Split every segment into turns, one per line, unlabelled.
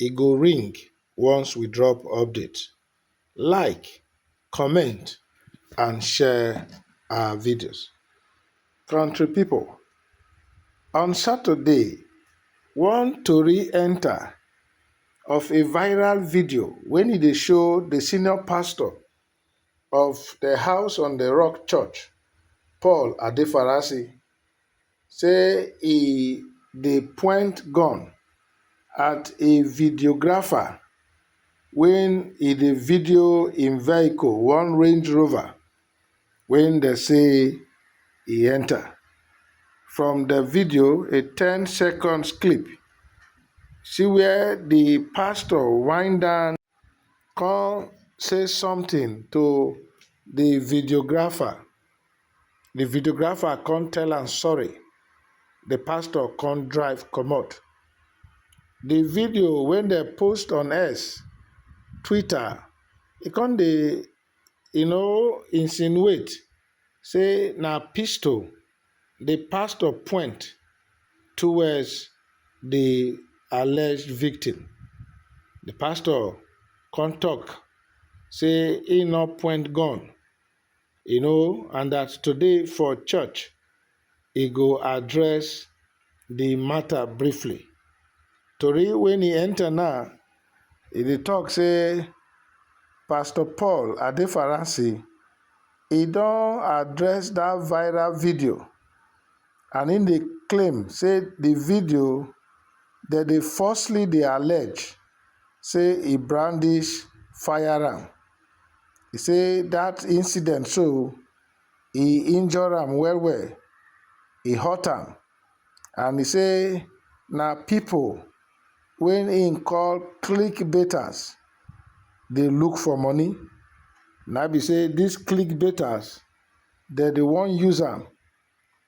e go ring once we drop update like comment and share our videos country people on saturday one tori enter of a viral video wen e dey show the senior pastor of the house on the rock church Paul adefarasi say e dey point gun at a videographer wen e dey video im vehicle one range rover wey dem say e enta. From di video a ten seconds clip see wia di pastor wind down. come say something to the videographer, the videographer come tell am sorry, the pastor come drive comot. The video wey dem post on X, Twitter, e come dey e no insinuate say na pistol di pastor point towards di alleged victim. Di pastor come tok say e no point gun, you know and dat today for church, e go address di matter briefly. Tori wen e enter now, e dey talk say Pastor Paul Adefaransi, e don address dat viral video and im dey claim say di video dem dey falsely dey allege say e brandish firearm. E say dat incident so e injure am well well, e hurt am and e say na people wey im call click baiters dey look for money, na im be say this click baiters dem dey wan use am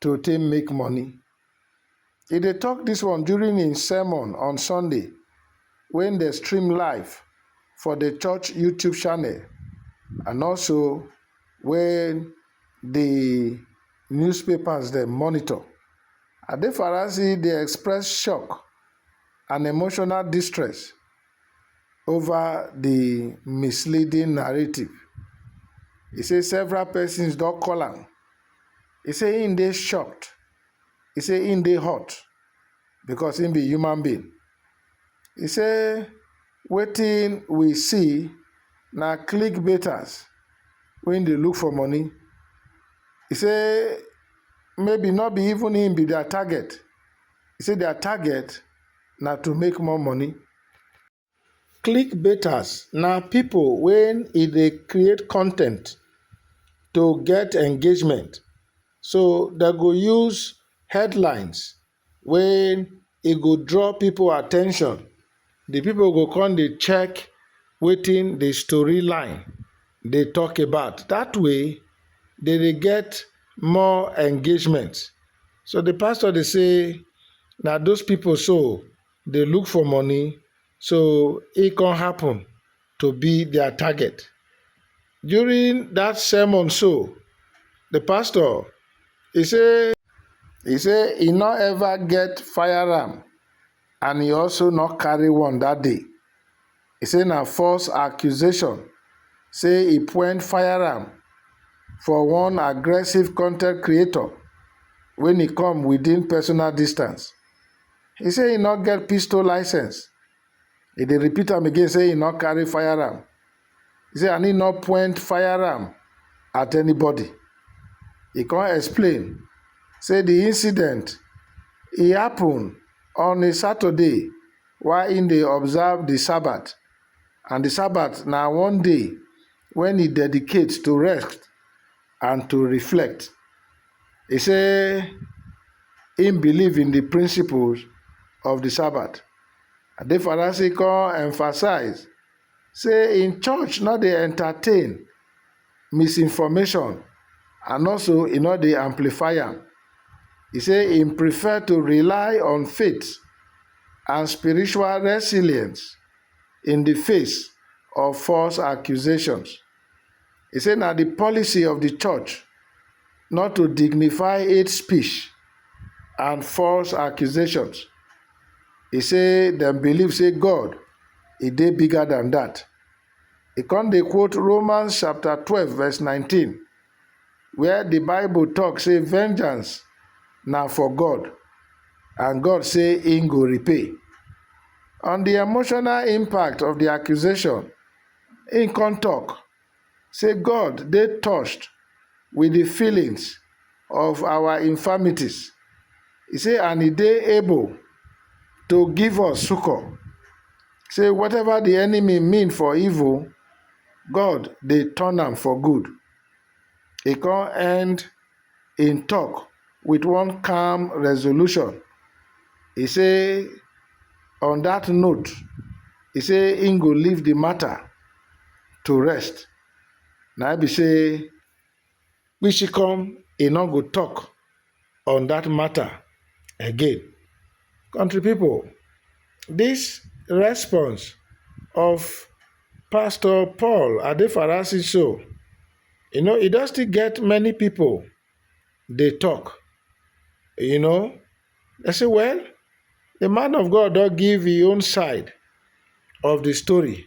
to take make money. E dey tok dis one during im sermon on Sunday wey dem stream live for di church YouTube channel and also wey di newspapers dem monitor. Adefarasi dey express shock and emotional distress ova di misleading narrative. E say several pesins don call am He say him dey shocked, he say him dey hurt because him be human being. He say wetin we see na clickbaiters wey dey look for money. He say maybe no be even him be their target, he say their target na to make more money. clickbaiters na pipo wey e dey create con ten t to get engagement so dem go use headlines wey e go draw pipo at ten tion di pipo go come dey check wetin di story line dey talk about dat way dem dey get more engagement so di pastor dey say na those pipo so. dey look for money so e come happen to be their target. During that sermon so, the pastor he say he say he no ever get firearm and he also no carry one that day. He say na false accusation say he point firearm for one aggressive content creator when he come within personal distance. He say he no get pistol license. He dey repeat am again say he no carry firearm. He say and he no point firearm at anybody. He come explain say the incident e happen on a Saturday while he dey observe the Sabbath and the Sabbath na one day wey e dedicate to rest and to reflect. E say im believe in di principles of di Sabbath. Adefarasi come emphasize say im church no dey entertain misinformation and also e no dey amplify am. E say im prefer to rely on faith and spiritual resilience. in di face of false accusations. E say na di policy of di church not to dignify hate speech and false accusations. E say dem believe say God e dey bigger than dat. E come dey quote Romans chapter twelve verse nineteen where the bible talk say vengeance na for God and God say he go repay. On the emotional impact of the accusation, he come talk say God dey touched with the feelings of our infirmities. He say and he dey able to give us succor. Say whatever the enemy mean for evil, God dey turn am for good. He come end him talk with one calm resolution. He say on that note, he say him go leave the matter to rest. Na be say Kpishikom e no go talk on that matter again. Country people, this response of Pastor Paul Adefarasi so, you know, e don still get many people dey talk. You know, they say, well, the man of God don give his own side of the story.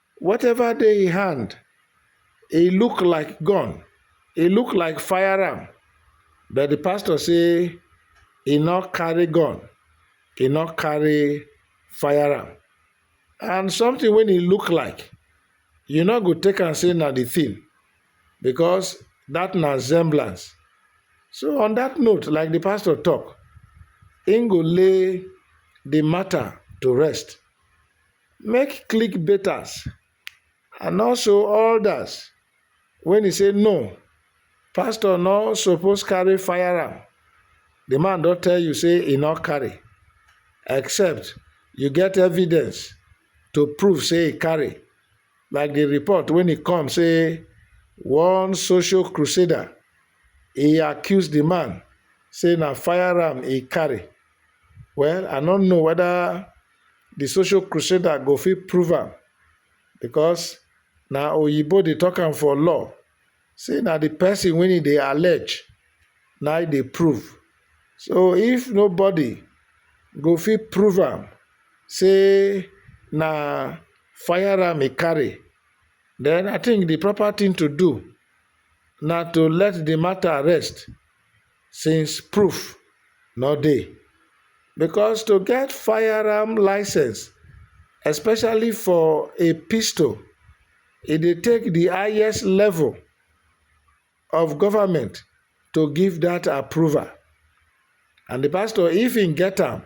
whatever dey im hand e look like gun e look like fire am but the pastor say e no carry gun e no carry fire am and something wey e look like you no go take am say na the thing because that na semblance so on that note like the pastor talk im go lay the matter to rest make clickbaiters and also odas wen e say no pastor no suppose carry firearm di man don tell you say e no carry except you get evidence to prove say e carry like di report wen e come say one social crusader e accuse di man say na firearm e carry well i no know weda the social crusader go fit prove am because na oyibo dey talk am for law say na the person wey e dey allege na e dey prove so if nobody go fit prove am say na firearm e carry then I think the proper thing to do na to let the matter rest since proof no dey because to get firearm licence especially for a pistol e dey take di highest level of government to give dat approval and di pastor if im get am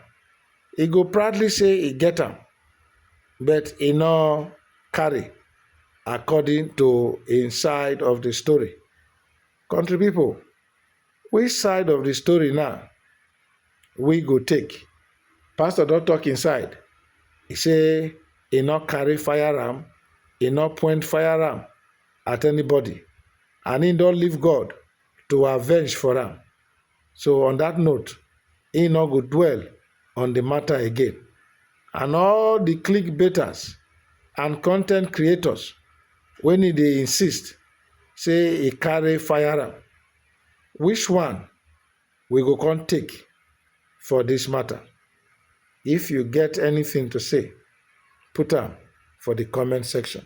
e go proudly say e get am but e no carry according to im side of di story. Country people, which side of the story na we go take? Pastor don talk him side, he say he no carry fire am, he no point fire am at anybody and he don leave God to avenge for am. So on that note, he no go dwell on the matter again. And all the clickbaiters and content creators when he dey insist say he carry firearm, which one we go come take for this matter? If you get anything to say, put am for the comment section.